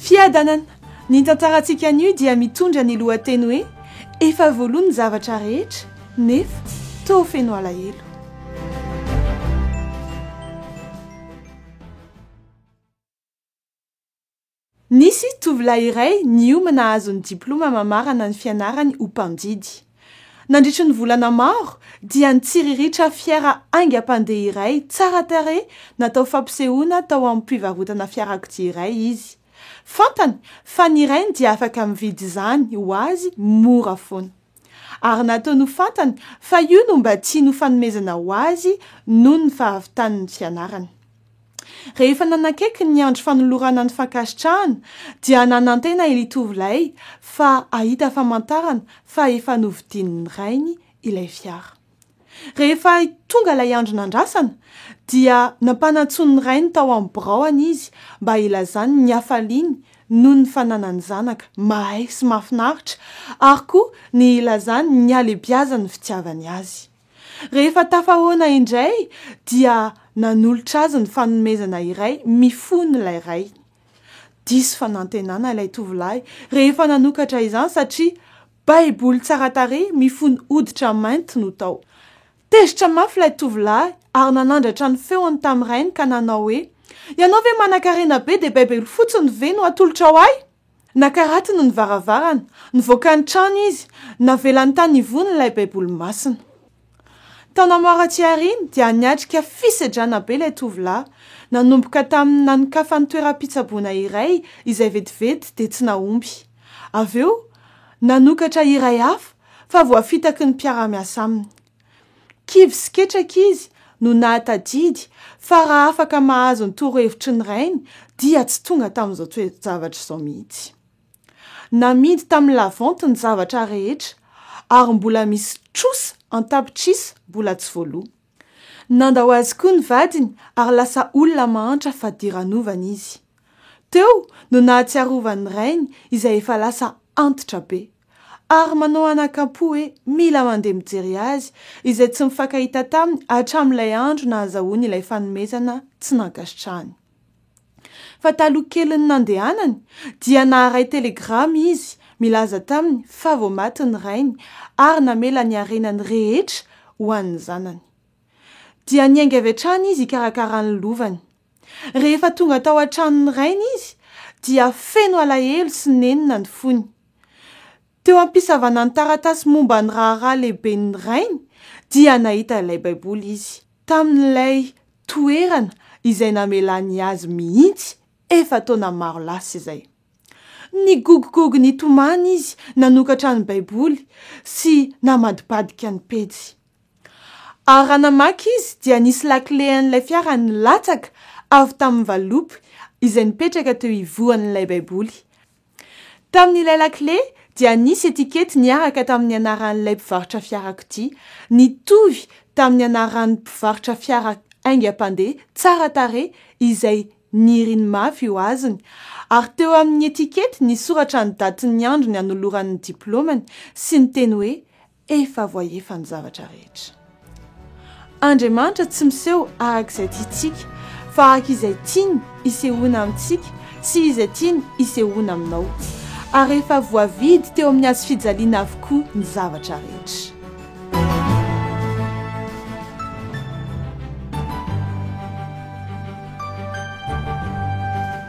Fiadanana. Ny tantarantsika anio dia mitondra ny lohateny hoe Efa voaloa ny zavatra rehetra, nefa toa feno alahelo. Nisy tovolahy iray niomana hahazo ny diplaoma mamarana ny fianarany ho mpandidy. Nandritry ny volana maro, dia nitsiriritra fiara haingam-pandeha iray tsara tarehy natao fampisehoana tao amin'ny mpivarotana fiarakodia iray izy. Fantany fa ny rainy dia afaka mividy izany ho azy mora foana. Ary nataony ho fantany fa io no mba tiany ho fanomezana ho azy noho ny fahavitany ny fianarany. Rehefa nanakaiky ny andro fanolorana ny fankasitrahana dia nanantena ily tovolahy fa hahita famantarana fa efa novidian'ny rainy ilay fiara. Rehefa tonga ilay andro nandrasana, dia nampanantsoin' ny rainy tao amin'ny biraony izy mba hilazany ny hafaliany noho ny fananany zanaka mahay sy mahafinaritra, ary koa ny hilazany ny halebiazan'ny fitiavany azy. Rehefa tafahoana indray, dia nanolotra azy ny fanomezana iray mifono ilay rainy. Diso fanantenana ilay tovolahy rehefa nanokatra izany satria Baiboly tsara tarehy mifono hoditra mainty no tao. Tezitra mafy ilay tovolahy ary nanandratra ny feony tamin'ny rainy ka nanao hoe, Ianao ve manankarena be dia Baiboly fotsiny ve no atolotrao ahy? Nakaratiny ny varavarana, nivoaka ny trano izy, navelany tany ivony ilay Baiboly masina. Taona maro aty aoriana dia niatrika fisedrana be ilay tovolahy, nanomboka tamin'ny nanokafany toeram-pitsaboana iray izay vetivety dia tsy nahomby. Avy eo, nanokatra iray hafa fa voafitaky ny mpiara-miasa aminy. Kivy sy ketraka izy no nahatadidy fa raha afaka mahazo ny torohevitry ny rainy dia tsy tonga tamin'izao toe-javatra izao mihitsy. Namidy tamin'ny lavanty ny zavatra rehetra, ary mbola misy trosa an-tapitrisa mbola tsy voaloa. Nandao azy koa ny vadiny, ary lasa olona mahantra fadiranovana izy. Teo no nahatsiarovan'ny rainy izay efa lasa antitra be, ary manao anakampo hoe mila mandeha mijery azy izay tsy mifankahita taminy hatramin'ilay andro nahazahoany ilay fanomezana tsy nankasitrahany. Fa taloha kelin'ny nandehanany dia naharay telegrama izy milaza taminy fa vao maty ny rainy ary namela ny harenany rehetra ho an'ny zanany. Dia niainga avy hatrany izy hikarakara ny lovany. Rehefa tonga tao an-tranon'ny rainy izy dia feno alahelo sy nenina ny fony. Teo am-pisavana ny taratasy momba ny raharaha lehiben'ny rainy, dia nahita ilay Baiboly izy, tamin'ilay toerana izay namelany azy mihitsy efa-taona maro lasa izay. Nigogogogo nitomany izy nanokatra ny Baiboly sy namadibadika ny pejy. Ary raha namaky izy, dia nisy lakile an'ilay fiara nilatsaka avy tamin'ny valopy izay nipetraka teo ivohan'ilay Baiboly. Tamin'ilay lakile dia nisy etikety niaraka tamin'ny anaran'ilay mpivarotra fiarakodia, nitovy tamin'ny anaran'ny mpivarotra fiara haingam-pandeha tsara tarehy izay niriny mafy ho azony, ary teo amin'ny etikety nisoratra ny datin'ny andro nianolorany ny diplaomany sy ny teny hoe Efa voaefa ny zavatra rehetra. Andriamanitra tsy miseho araka izay tiantsika, fa araka izay tiany isehoana amintsika sy izay tiany isehoana aminao. Ary efa voavidy teo amin'ny hazo fijaliana avokoa ny zavatra rehetra.